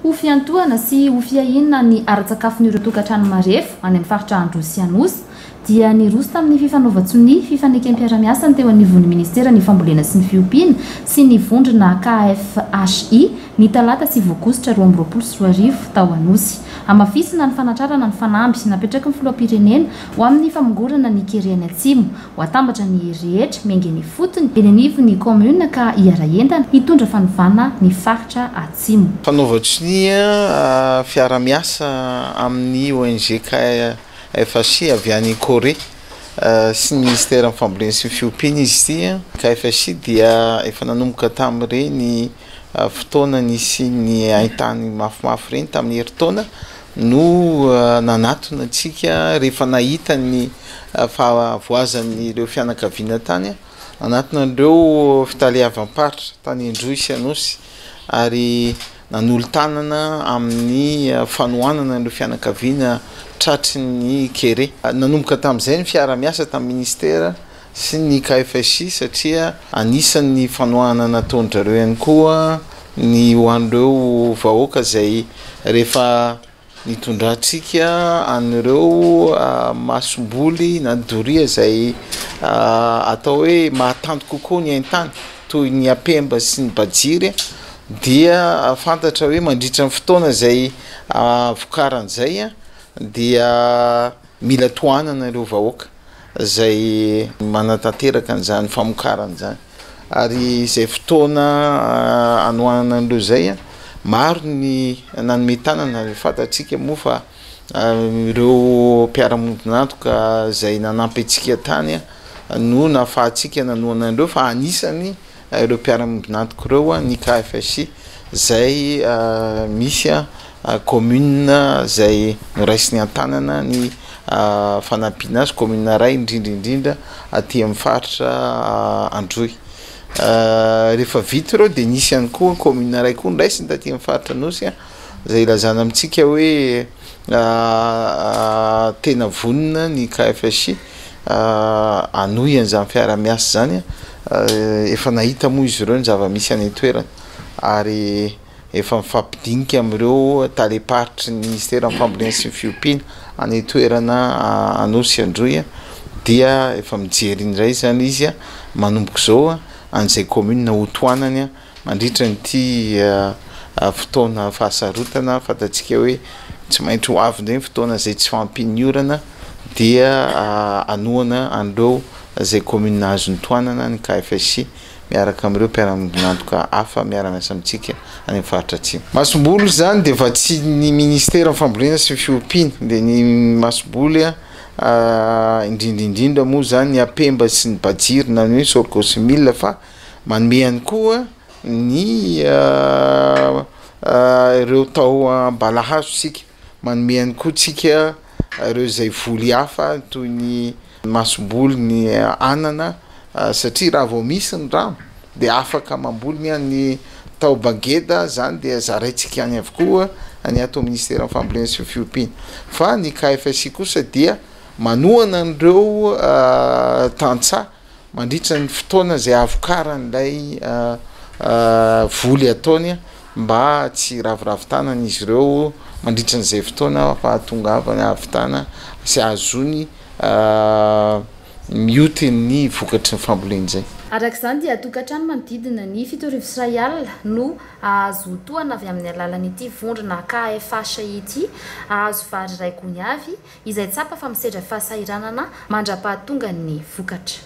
Ho fiantohana sy ho fiahiana ny ara-tsakafon'ireo tokantrano marefo any amin'ny faritra Androy sy Anosy dia niroso tamin'ny fifanaovan-tsonia fifanekem-piara-miasa ny teo anivon'ny ministeran'ny Fambolena sy ny Fiompiana sy ny vondrona KFHI ny talata sivy aogositra roa amby roapolo sy roa arivo tao Anosy hamafisina ny fanatrarana ny fanamby napetraky ny filoham-pirenena Ho amin'ny famongorana ny kere any Atsimo, ho atambatra ny hery rehetra miainga eny ifotony, eny anivon'ny kaominina ka hiara-hientana hitondra fanovana ny faritra Atsimo. Fanaovan-tsonia fiara-miasa amin'ny ONG KFHI avy any Corée sy ny Minisiteran'ny Fambolena sy ny Fiompiana izy ity. KFHI dia efa nanomboka tamin'ireny fotoana nisian'ny hain-tany mafimafy ireny tamin'ny herintaona no nanatona antsika rehefa nahita ny fahavoazan'ireo fianakaviana tany anatin'ireo fitaleavam-paritra tany Indroy sy Anosy ary nanolo-tanana amin'ny fanohanana ireo fianakaviana tratry ny kere. Nanomboka tamin'izay ny fiara-miasa tamin'ny Minisitera sy ny KFSI satria anisan'ny fanohana nataon-dry zareo ihany koa ny ho an'ireo vahoaka izay rehefa nitondrantsika an'ireo masomboly na ny doria izay atao hoe mahatanty kokoa ny haintany toy ny Apemba sy ny Bajiry dia fantatra hoe mandritra ny fotoana izay vokaran'izay dia mila tohanana ireo vahoaka. izay manatanteraka an'izany famokarana izany ary izay fotoana anohanana an'ireo izay, maro ny nanome tanana ary fantatsika moa fa ireo mpiara-miombon'antoka izay nanampy antsika tany no nahafahantsika nanohana an'ireo fa anisany ireo mpiara-miombon'antoka ireo an, ny KFSI izay misy an commune izay noraisiny an-tanana ny fanampiana azy, commune iray indrindra indrindra aty amin'ny faritra Androy, rehefa vita ireo dia nisy ihany koa commune iray koa noraisiny taty amin'ny faritra Anosy an, izay ilazana amintsika hoe tena vonona ny KFSI hanohy an'izany fiaraha-miasa izany. Efa nahita moa izy ireo ny zava-misy any an-toerana ary efa mifampidinika amin'ireo talem-paritry ny ministeran'ny Fambolena sy ny Fiompiana any an-toerana Anosy Androy dia efa mijery indray izany izy manomboka izao an'izay kaominina hotohanany. Mandritra an'ity fotoana fahasarotana fantatsika hoe tsy maintsy ho avy indray ny fotoana izay tsy fahampian'ny orana dia hanohana an'ireo izay kaominina azon'ny tohanana ny KFSI miaraka amin'ireo mpiara-miombon'antoka hafa miara-miasa amintsika any amin'ny faritra Atsimo. Masomboly izany dia vatsian'ny minisiteran'ny fambolena sy ny fiompiana dia ny masomboly indrindra indrindra moa izany ny apemba sy ny bajir na ny hoe sorgho sy mil fa Manome ihany koa ny ireo taoam-balahazo isika, manome ihany koa tsika ireo izay voly hafa toy ny masomboly, ny anana satria raha vao misy ny rano dia afaka mamboly, ny an'ny taoba ngeda izany dia zaraintsika any avokoa any ato amin'ny minisiteran'ny fambolena sy ny fiompiana fa ny KFSI kosa dia manohana an'ireo tantsaha. Mandritra ny fotoana izay havokaran'ilay voly ataony mba tsy hiraviravin-tanana izy ireo mandritra an'izay fotoana fahatongavany hahavitana sy hahazoany mioty ny vokatry ny famboleny izay. Araka izany dia tokantrano manodidina ny fito arivo sy iray alina no hahazo tohana avy amin'ny alalan'ity vondrona KFH ity, hahazo vary iray gony avy, izay tsapa fa misedra fahasahiranana mandra-pahatongan'ny vokatra.